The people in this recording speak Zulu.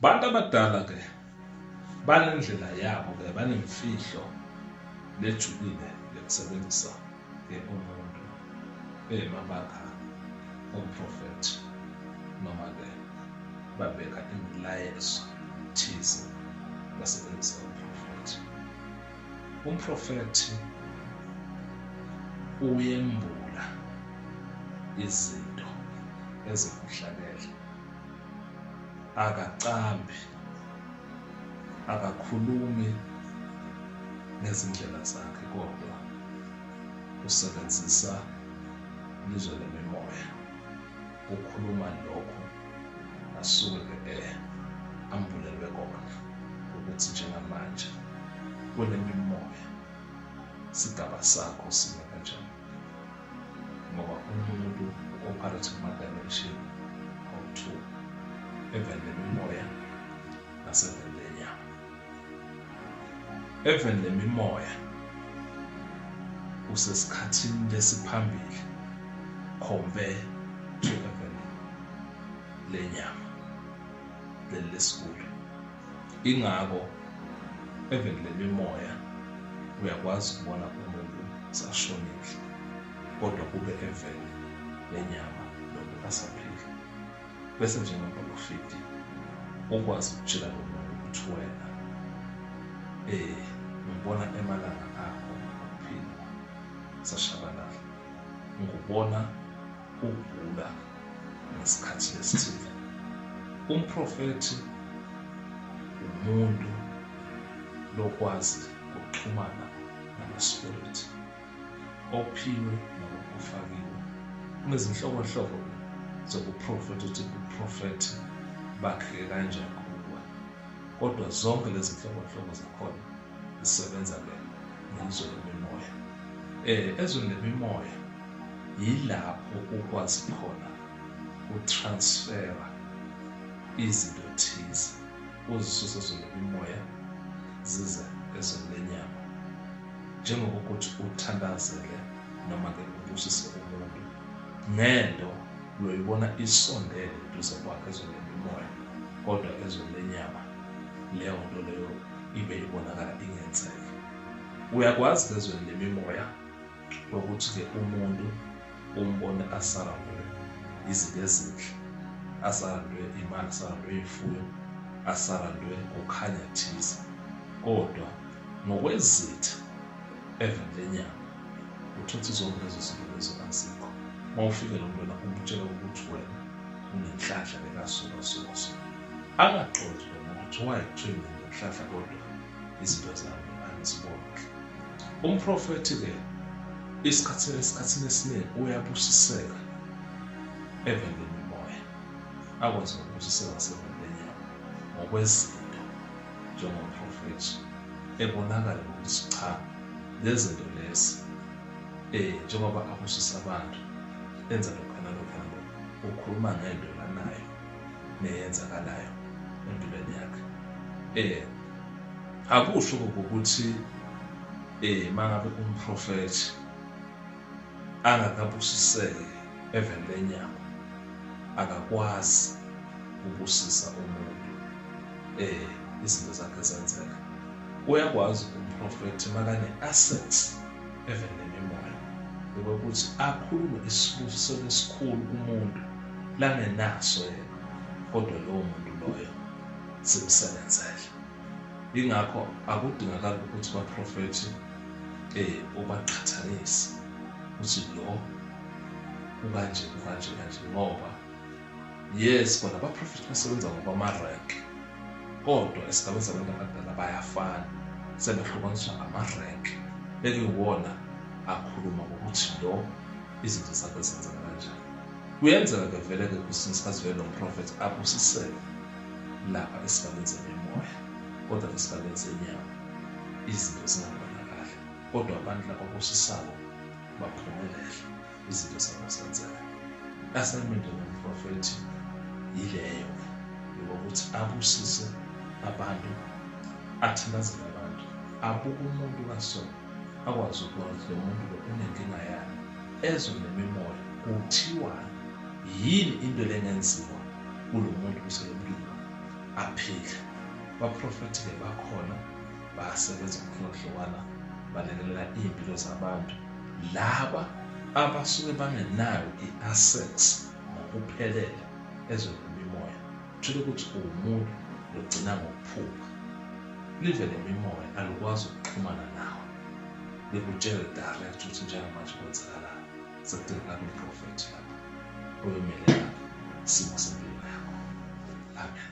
Bantu abadala ke banendlela yabo ke banemfihlo lejulile yokusebenzisa ke umuntu bemabaka omprofethi noma ke babeka imilayezo thize basebenzisa umprofethi umprofethi uyembula izinto ezibuhlakele akacambi akakhulumi ngezindlela zakhe kodwa usebenzisa lizwe lemimoya ukhuluma lokho asuke ke ambulelwe kona ukuthi njengamanje kule mimoya sigaba sakho sime kanjani ngoba umuntu u-operate kuma-dimension awu-two eveni lemimoya naseveni lenyama eveni lemimoya usesikhathini lesiphambili compare to eveni lenyama leli lesikulo ingako even le mimoya uyakwazi ukubona umuntu sashonile kodwa kube evele nenyama lokhu asaphila bese njengoprofidi ukwazi ukutshela nomuntu ukuthi wena eh ngibona emalanga akho ngokuphila sashabalala ngikubona Ugula ngesikhathi esithile. Umprofethi umuntu lokwazi ukuxhumana namaspirit ophiwe noma ofakiwe. Kunezinhlobonhlobo zokuprofetha ukuthi uprofethi bakheke kanjani kuwe. Kodwa zonke lezi nhlobonhlobo zakhona zisebenza-ke nezwe lemimoya. Eh, ezweni lemimoya yilapho ukwazi khona utransfera izinto thize uzisuse ezweni lemimoya zize ezweni lenyama njengokuthi uthandazele noma-ke ubusise umuntu ngento loyibona isondele duze kwakhe ezweni lemimoya kodwa ezweni lenyama leyo nto leyo ibe ibonakala ingenzeka uyakwazi ezweni lemimoya ukuthi-ke umuntu umbone asarandwe izinto ezinhle asarandwe imali asarandwe imfuyo asarandwe kukhanya thize kodwa ngokwezitha eveni lenyama uthutha izonke lezo zinto lezo azikho uma ufike lo mntwana umtshela ukuthi wena unenhlanhla lekasukasukasuka Angaxoxi noma ukuthi wayekuthiwe mina ngokuhlahla kodwa izinto zami angiziboni kahle. Umprofethi-ke isikhathini esikhathini esiningi uyabusiseka evendeni lomoya akwazi ukubusiseka sevendeni yabo ngokwezinto njengomprofethi ebonakala ukuthi cha lezi zinto lezi um njengoba abusisa abantu enza lokhana lokhana lokhu ukhuluma ngento lanayo neyenzakalayo empilweni yakhe eh akusho ukuthi eh mangabe umprofethi angakabusiseki eveni lenyama akakwazi ubusisa umuntu eh izinto zakhe zenzeka uyakwazi umprofethi makane assets even nemimoya ukuthi akhulume isibusiso esikhulu kumuntu langenaso yena kodwa lowo muntu loyo simsebenzele ingakho akudingakali ukuthi baprofethi eh ubaqhathanise ukuthi lo ukanje kanje kanje ngoba yes kona abaprofethi basebenza ngokwama-rank kodwa esigabeni sabantu abadala bayafana sebehlukaniswa ngama-rank bekuyiwona akhuluma ngokuthi lo izinto zakhe zenzeka kanjani kuyenzeka ke vele-ke kwesinye isikhathi vele nomprofethi abusisele lapha esigabeni semimoya kodwa esigabeni senyama izinto zingabonakali kodwa abantu laba abusisako baphumelele izinto zabo zenzeka assignment yomprofethi yileyo yokuthi abusise abantu athandazele abantu abuke umuntu kasona akwazi ukubona ukuthi lo muntu lo unenkinga yani ezwe nemimoya kuthiwa yini into lengenziwa kulo muntu kuselompilo aphile baprofethi-ke bakhona basebenza ngokuhlukana balekelela iy'mpilo zabantu laba abasuke bangenayo i-assex ngokuphelele ezweni lemimoya uthole ukuthi uwumuntu lugcina ngokuphupha live lemimoya alukwazi ukuxhumana nawe likutshele direct ukuthi njengamanje kwenzakalani sekudingakala umprofethi lapho oyomele lapho isimo sempilo yakho amen